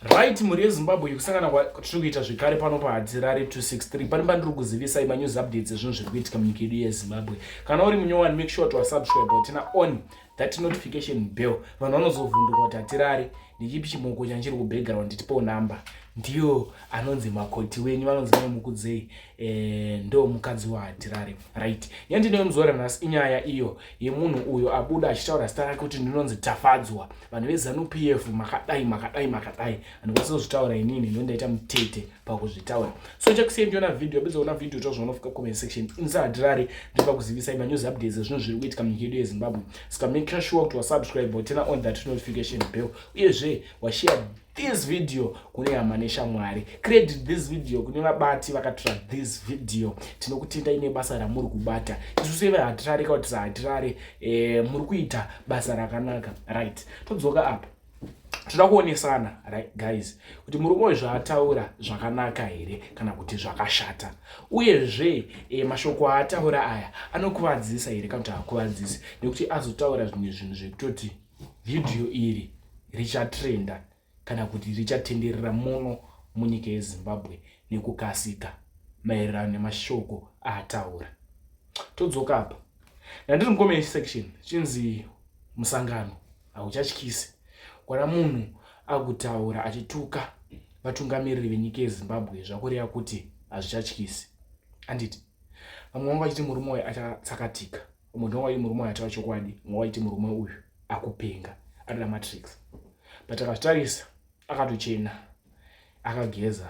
right mhuri yezimbabwe yekusangana kwatiri kuita zvekare pano pahadzirare 263 pane pandiri kuzivisai manews updates ezvinhu zviri kuitika munyika yedu yezimbabwe kana uri munyowani make sure tiwasubscribe watina on that notification bell vanhu vanozovhunduka kuti hatirare ndichipi chimoko chanchiri kubackground tipewo number ndiyo anonzi makoti wenyu vanonzi mai mukudzei Eh, ndo mukadzi wahatirare right yandinoyo muzora nhasi inyaya iyo yemunhu uyo abuda achitaura zita rake kuti ndinonzi tafadzwa vanhu vezanup f makadai makadai makadai handikwanisa kuzvitaura inini ndo ndaita mutete pakuzvitaura so chakusiya ndiona video apedza kuona video tozvaona fika comment section inisa hatirare ndipa kuzivisai manews updates ezvinhu zviri kuitika munyika yedu yezimbabwe ska make sure kuti wasubscribe or turn on that notification bell uyezve washare this video kune hama neshamwari credit this video kune vabati vakatora this video tinokutendai nebasa ramuri kubata isu seve hatirare ka kuti sahatirare eh, muri kuita basa rakanaka right todzoka apa toda kuonesana right guys kuti murume uyu zvaataura zvakanaka here kana kuti zvakashata uyezve e, mashoko aataura aya anokuvadzisa here kana kuti haakuvadzisi nekuti azotaura zvimwe zvinhu zvekutoti vhidhiyo iri richatrenda kana kuti richatenderera muno munyika yezimbabwe nekukasika maererano nemashoko aataura todzoka apa ndandiri mucomment section chinzi musangano hauchatyisi kwana munhu akutaura achituka vatungamiriri venyika yezimbabwe zvakureva kuti hazvichatyisi anditi vamwe vanga vachiti murume wayo achatsakatika umwe ndowayi murume ayataura chokwadi umwe waiti murume uyu akupenga anoda matrix but akazvitarisa akatochena akageza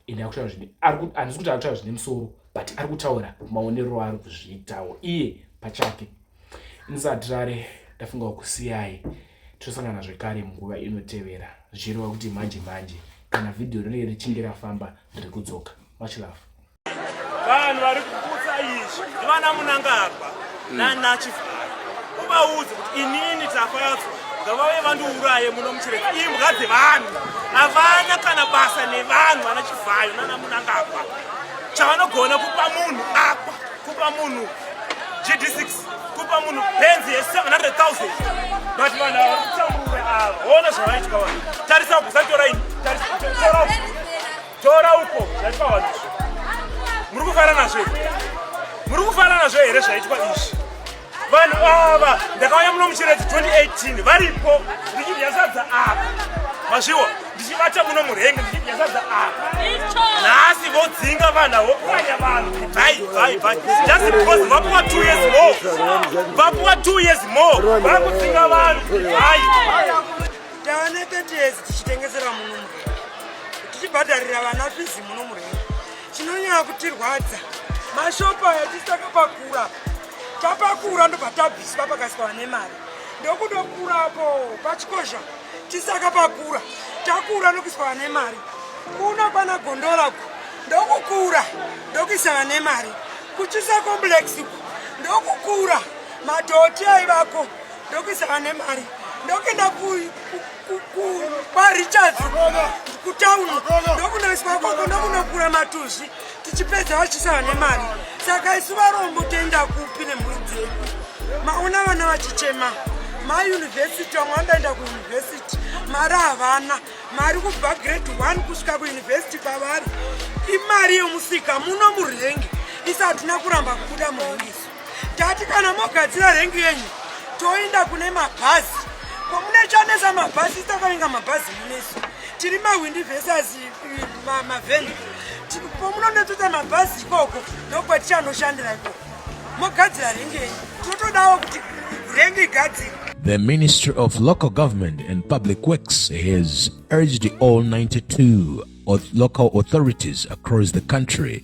ende akutaura zvine handisi kuti akutaura zvine musoro but ari kutaura maonero aari kuzviitawo iye pachake ndisatirare ndafunga kusiyai tosangana zvekare munguva inotevera zvichireva kuti manje manje kana vhidhiyo rinenge richinge rafamba riri kudzoka much love vanhu vari kuputsa izvi ndivana munangagwa mm. nanachivhara uvaudzi kuti inini tafadzwa ngavave vandiuraye muno muchireka imbwa dzevanhu havana kana basa nevanhu vana chivhayo nana munangagwa chavanogona kupa munhu akwa kupa munhu gd6 kupa munhu benzi ye700000 but vanhu ava kutambura ava ona zvavaitwa vanhu tarisa kusatora ini tarisa Tora uko zvaitwa vanhu izvi. Muri kufara nazvo here? Muri kufara nazvo here zvaitwa izvi? Vanhu ava ndakauya muno muchiredzi 2018 varipo ndichidya sadza apa. Mazviwa ndichibata muno murenge ndichidya sadza apa. Nhasi vodzinga vanhu avo kuranya vanhu. Bye bye bye. Just because vapuwa 2 years more. Vapuwa 2 years more. Vakudzinga vanhu. Bye. tava neketezi tichitengesera muno murenge tichibhadharira vana fizi muno murenge chinonyaya kutirwadza mashopu aya tisi takapakura tapakura ndobva tabviswa pakasiwa nemari ndokudokurapo pachikozha tisi takapakura takura ndokuiswa vane mari kuno kwana gondora ku ndokukura ndokuisa vane mari kuchisa complex ku ndokukura madhoti aivako ndokuisa vane mari ndokuenda kwarichards kutauni ndokunoiswa koko ndokunokura matuzvi tichipedza vachisa vane mari saka isu varombo toenda kupi nemhuri dzedu maona vana vachichema mayunivhesiti vamwe vanodaenda kuyunivhesiti mari havana mari kubva grade one kusvika kuyunivhesiti kwavari imari yomusika muno murenge isa hatina kuramba kubuda muhungiso Tati kana mogadzira rengi yenyu toenda kune mabhazi komune chanesa mabhazi takainga mabhazi munesu tiri mahwindi vesasi mavheni pomunonetoita mabhazi ikoko ndokwatichanoshandira ikoko mogadzira rengi yenyu totodawo kuti rengi igadzira The Ministry of Local Government and Public Works has urged all 92 local authorities across the country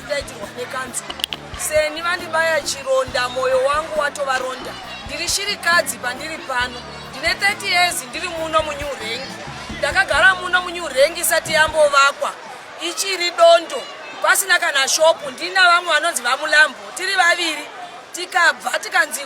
ndaitirwa nekanzu seni vandibaya chironda moyo wangu watovaronda ndiri shirikadzi pandiri pano ndine 30 years ndiri muno munew rank ndakagara muno munew rank isati yambovakwa ichiri dondo pasina kana shopu ndina vamwe vanonzi vamulambo tiri vaviri tikabva tikanzi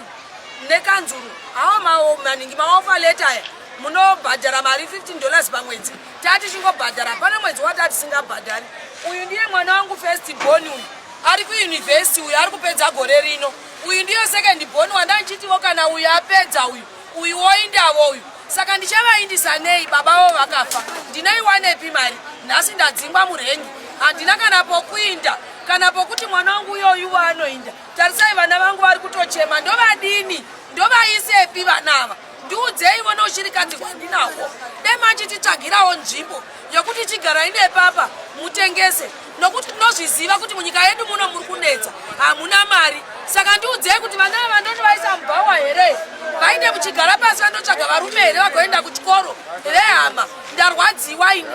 nekanzuru awo maningi maofa leta aya munobhadhara mari 15 dollars pamwedzi tati chingobhadhara hapana mwedzi wati atisingabhadhari uyu ndiye mwana wangu first born uyu ari kuuniversity uyu ari kupedza gore rino uyu ndiyo second born wandandichitiwo kana uyu apedza uyu uyu woindavo uyu saka ndichavaindisa nei baba vavo vakafa ndinoiwanepi mari nhasi ndadzingwa murengi handina kana pokuinda kana pokuti mwana wangu uyoyu waanoinda tarisai vana vangu vari kutochema ndovadini ndovaisepi vana ava ndiudzei vona uchirikadzi hwandinahwo dai machititsvagirawo nzvimbo yokuti chigarai nepapa mutengese nokuti tinozviziva kuti munyika yedu muno muri kunetsa hamuna mari saka ndiudzei kuti vana vandoti vaisa mubhawa here vaine muchigara pasi vandotsvaga varume here vagoenda kuchikoro vehama ndarwadziwa ini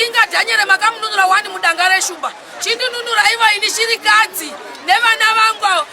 inga dhanyere makamununura wani mudanga reshumba chindinunura ivo ini shirikadzi nevana vangu avo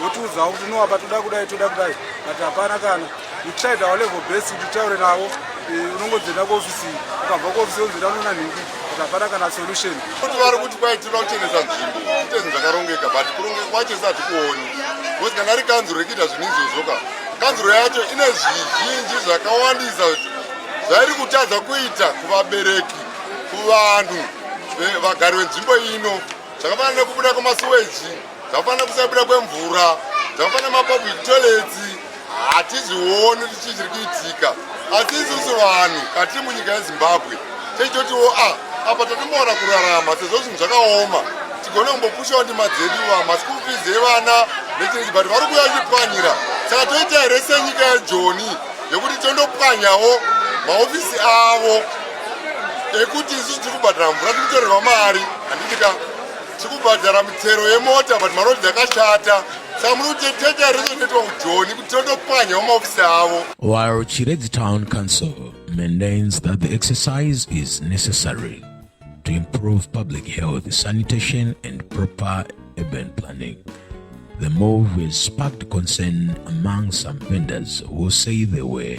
votiudzawo kuti no apa toda kudai toda kudai but hapana kana you tried our level best kuti taure navo eh, unongodzenda kuofisi ukabva kuofisi onzenda unona nhingi but hapana kana solution kuti vari kuti kwai tinoda kuchenesa nzvimbo kuteni zvakarongeka but kurongeka kwacho satikuoni bcause kana ri kanzuro rekuita zvinhu izvozvoka kanzuro yacho ine zvizhinji zvakawandisa zvairi kutadza kuita kuvabereki kuvanhu eh, vagari venzvimbo ino zvakafanira nekubuda kwemasuweji Zvakafanana kusabuda kwemvura, zvakafanana mapublic toilets hatizioni kuti chii chiri kuitika. Asi isusu vanhu katiri munyika yeZimbabwe tichitotiwo a ah, apa tatomuwana kurarama sezvo zvinhu zvakaoma tigone kumbopushawo ndima dzedu vamaschool fees evana nechinzi but vari kuuya vachipwanyira saka toita here senyika yejoni yekuti tondopwanyawo mahofisi avo ekuti isusu tiri kubhadhara mvura tiri kutorerwa mari handiti ka tikubhadhara mitero yemota but marodhi akashata saka muri kuti tete arizonoitwa kujoni kuti tondopwanya wamaofisi avo while chiredzi town council maintains that the exercise is necessary to improve public health sanitation and proper urban planning the move has sparked concern among some vendors who say they were